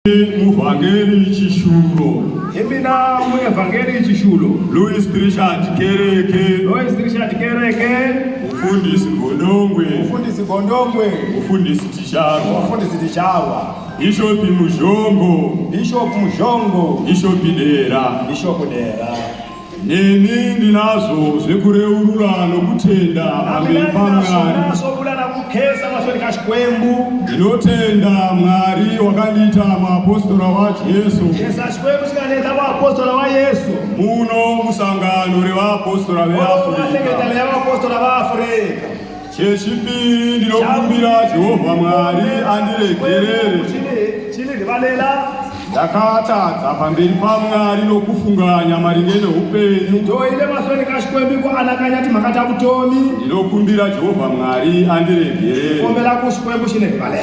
Muvhangeri Chishulo. Imina Muvhangeri Chishulo. Louis Richard Kereke. Louis Richard Kereke. Mufundisi Gondongwe. Mufundisi Gondongwe. Mufundisi Ticharwa. Mufundisi Ticharwa. Bishop Muzhongo. Bishop Muzhongo. Bishop Dera. Bishop Dera. Neni ndinazvo zvekureurura nokutenda pamberi paMwari. Ndinotenda Mwari wakandiita muapostora waJesu. Muno musangano revaapostora veAfurika. Chechipiri ndinokumbira Jehovha Mwari andiregerere. Chini ndivalela ndakatadza pamberi pamwari nokufunganya maringe neupenyu ndoile masoni kashikwembiko anakanyati makata kutomi ndinokumbira jehovha mwari andiregerere ombela kushikwembu shine vale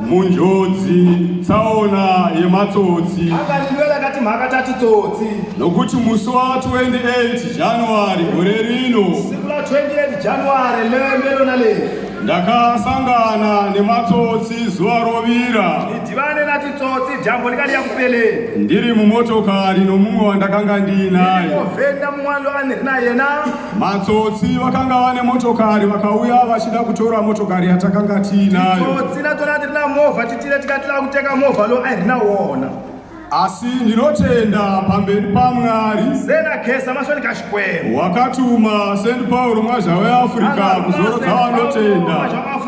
munjodzi tsaona yematsotsi akandiwela kati mhaka tati tsotsi nokuti musi wa 28 january gore rino siku la 28 january lembelo na le ndakasangana nematsotsi zuva rovira ndidhivane na titsotsi dyambo likali ya kupeleni ndiri mumotokari nomumwe wandakanga ndiinaye ovhenda mun'wana lo a ni ri na yena Matsotsi vakanga vane motokari vakauya vachida kutora motokari yatakanga tiinayo. Tsotsi ratora tirina movha titire tikatira kutenga movha lo airina wona. Asi ndinotenda pamberi paMwari. Zena kesa masoni kashikwembo. Wakatuma Saint Paul mwazha weAfrica kuzorodza vanotenda.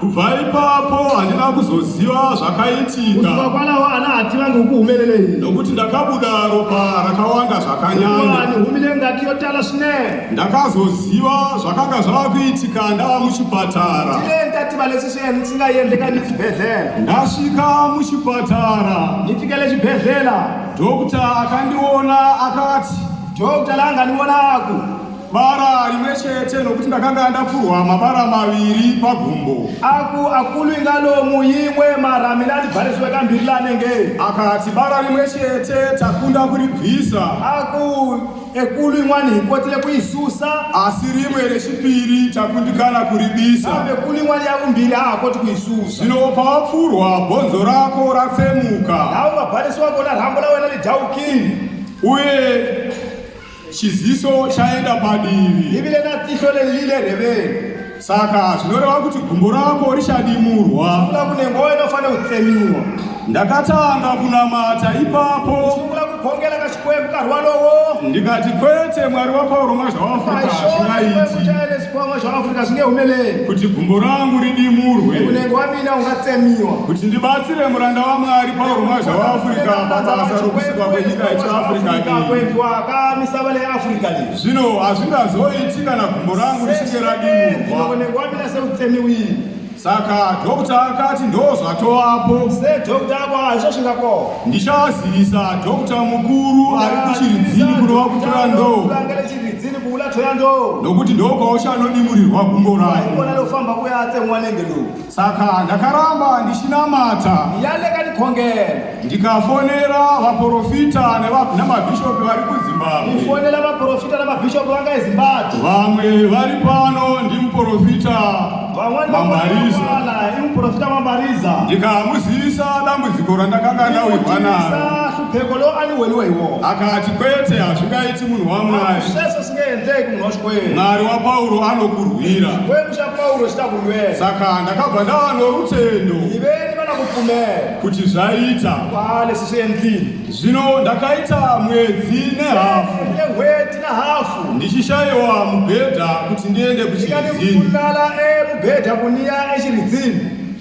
kubva ipapo handina kuzoziva zvakaitika kwanawo ana hativange ukuhumelelei nokuti ndakabuda ropa rakawanda zvakanyanya humile ngati yotala svine ndakazoziva zvakanga zvava kuitika ndava muchipatara tilendativa lesi sven singayendeka nichibhedhlela ndasvika muchipatara nifikele chibhedhlela dokta akandiona akati dokta langandiona aku bara rimwe chete nokuti ndakanga ndapfurwa mabara maviri pagumbo aku akulu ingalomu imwe mara mina ndibhariswe kambiri lanenge akati bara rimwe chete takunda kuribvisa aku ekulu in'wana hi kotile ku yi susa asi rimwe rechipiri takundikana kuribisa kambe kulu in'wana ya vumbirhi ha ha koti ku yi susa zvino pawapfurwa bhonzo rako ratsemuka laha u nga barisiwa kona rhambo la wena li dyaukile uye Chiziso chaenda padivi. Divi renadziso lelile reveni. Saka zvinoreva kuti gumbo rako richadimurwa. Sungula kune ngoyo inofanira kutsemiwa. Ndakatanga kunamata ipapo. Sungula kugongela kachikwembu karwalowo. Ndikati kwete mwari wapauro mwazvaafrika zvingaiti. Zvingehumelei. Kuti gumbo rangu ridimurwe. Kunenge wamina ungatsemiwa. Kuti ndibatsire muranda wamwari pauro mwazvaafrika pabasa rokusa. misava leafrica le zvino hazvingazoiti kana gumbo rangu richinge radimurwaonekwaminaseutsemiwii saka dhokta akati ndozvatovapo sedhokta ako hazvo zvingako ndichazivisa dhokta mukuru ari kuchiridzini kunova kutora ndoo nokuti ndokwaochanodimurirwa gumbo rayo Saka ndakaramba ndichinamata yaleka ndikhongela ndikafonera vaprofita neva- namabhishopi vari kuzimbabwe kufonela vaprofita na mabhishopu vanga ezimbabwe vamwe vari pano ndimuprofita van'wani mamariza vamwala i muprofita mambariza ndikamuzivisa dambudziko randakanga ndawirwa naro Sa hlupheko lowu a ni weriwe hi wona akati kwete hazvingaiti munhu wamwari sweswo mwari wapauro anokurwira saka ndakabva ndava norutendo kuti zvaita zvino ndakaita mwedzi nehafu ndichishayiwa mubhedha kuti ndiende kuchiridzinilala emubhedha kuniya echiridzini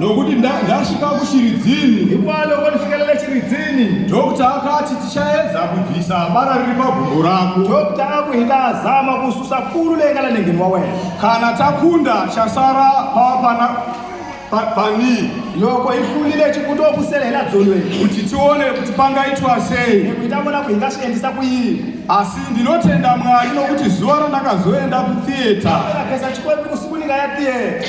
nokuti nda- ndasvika kuchiridzini Hikuva loko ni fikelele xiridzini, dokta akati tichaedza kubvisa bara riri pagumbo rako dokta a ku hi ta zama ku susa kulu leyi nga le nengeni wa wena. kana takunda chasara pava pana pa- panii Loko hi hlulile xi ku to ku sele hi la dzolweni, kuti tione kuti pangaitwa sei hi ta vona ku hi nga swi endlisa ku yini. asi ndinotenda mwari nokuti zuva randakazoenda kutheatre Ina khensa Xikwembu ku siku ni nga ya tiyeke.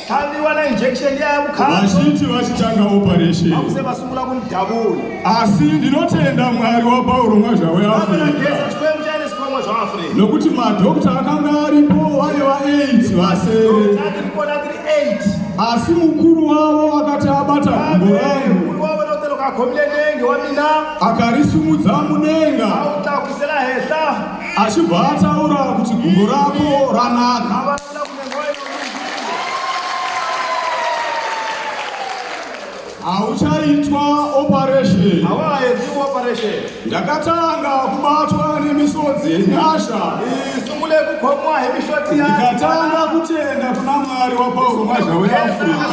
Tabiwana injection yaya kukhala. Vazhinji vachitanga operation. Vakuse vasungula kumudhabula. Asi ndinotenda Mwari wa Pauro Mwazhawe Africa. Vamana geza chikwembu chaine sikwamwa zva Africa. Nokuti madokta akanga aripo wave wa 8 vasere. Tati rikona tiri 8. Asi mukuru wavo akati abata gumbo rangu. Mukuru wavo notelo kakhomile nenge wa mina. Akarisumudza mudenga. Autakusela hehla. Achibva ataura kuti gumbo rako ranaka. Vavana. hauchaitwa operation hawaedzi operation ndakatanga kubatwa nemisodzi yenyasha isungule kukhomwa hi mishoti ya ndikatanga kutenda kuna mwari wapauro mazha weafrika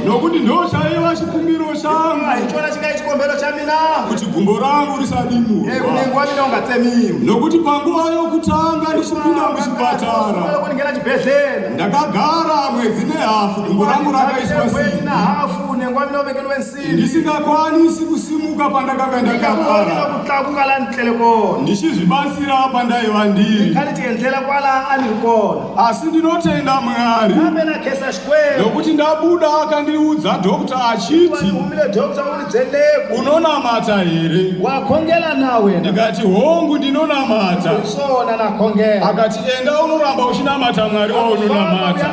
nokuti ndochaiva chikumbiro changu haichona chingai chikombero chamina kuti gumbo rangu risadimurwa eh, kunenge wamina ungatsemiwa nokuti panguva yokutanga ndichipinda muchipatara kuningera chibhedhlera ndakagara mwedzi nehafu gumbo rangu rakaiswa sina hafu unenge wamina uvekerwe nsini ndisingakwanisi kusimuka pandakanga ndakagara kutlakuka la ndlele kona ndichizvibatsira pandaiva ndiri ndikati tiendlela kwala aniri kona asi ndinotenda mwari nokuti ndabuda akandiudza dhokta achiti unonamata here wakongela nawe ndikati hongu ndinonamata sona nakongela akati enda unoramba uchinamata mwari waunonamata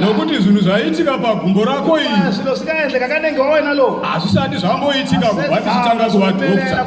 nokuti zvinhu zvaiitika pagumbo rako iri hazvisati zvamboitika kubva ndichitanga kuva dhokta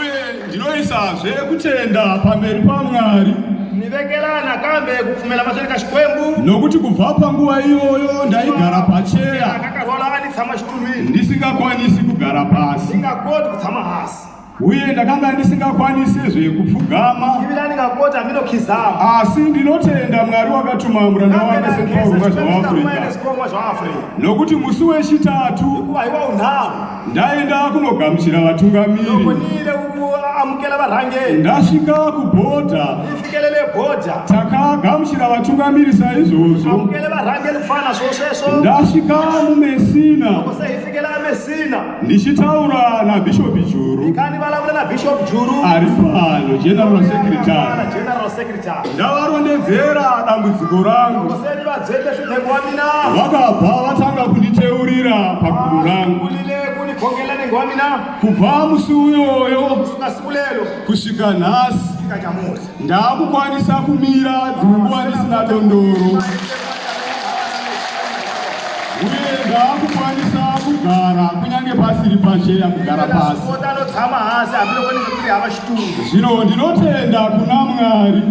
uye ndinoisazve kutenda pamberi pamwari nivekela nakambe kupfumela maswere ka xikwembu nokuti kubva panguva iyoyo ndaigara pacheya akakarwala a ni tshama xitulwini ndisingakwanisi kugara pasi ni nga koti ku tshama hasi uye ndakanga ndisingakwanisi zvekupfugama ivila ni nga koti hambi no khizama asi ndinotenda mwari wakatuma muranda wake sepauro mwa zvaafrica nokuti musi wechitatu hikuva hi wa unharhu ndaenda kunogamuchira vatungamiri ndokonile kuamukela varhangeri ndasvika kubhodha ndifikelele bhodha takagamuchira vatungamiri saizvozvo amukele varhangeri kufana zvo sweswo ndasvika mumesina kose hifikela amesina ndichitaura nabhishopi juru ndikani valavula na bishop juru ari pano general secretary Ana general secretary ndavarondedzera dambudziko rangu vakabva vatanga kunditeurira paguru rangu kubva musi uyoyo kusvika nhasi ndaakukwanisa kumira dzunguva ndisina dondoro uye ndaakukwanisa kugara kunyange pasiri pacheya kugara pasi Zvino ndinotenda kuna Mwari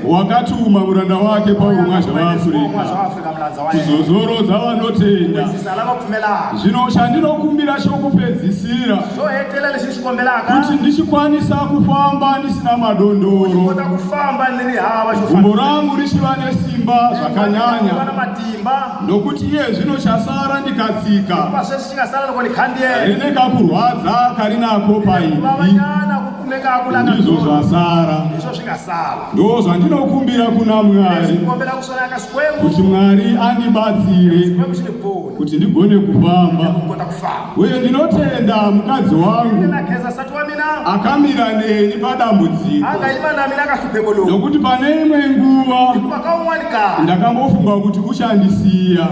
wakatuma muranda wake Pauro Mwazha vaAfurika kuzozorodza vanotenda. Zvino chandinokumbira chokupedzisira kuti ndichikwanisa kufamba ndisina madondoro, gumbo rangu richiva nesimba zvakanyanya, nokuti iye zvino chasara ndikatsika rine kakurwadza kari nako paizvi ndizvo zvasara ndo zvandinokumbira kuna mwari kuti mwari andibatsire kuti ndigone kufamba uye ndinotenda mukadzi wangu akamira neni padambudziko nokuti pane imwe nguva ndakambofunga kuti uchandisiya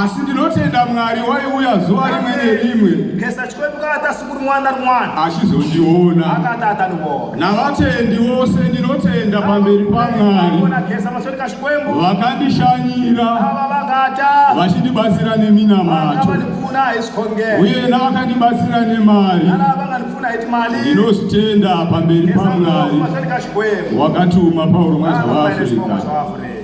asi ndinotenda mwari waiuya zuva rimwe nerimwe achizondiona navatendi vose ndinotenda pamberi pamwari vakandishanyira vachindibatsira neminamato uye navakandibatsira nemari ndinozvitenda pamberi pamwari wakatuma paurumwe zvaafrica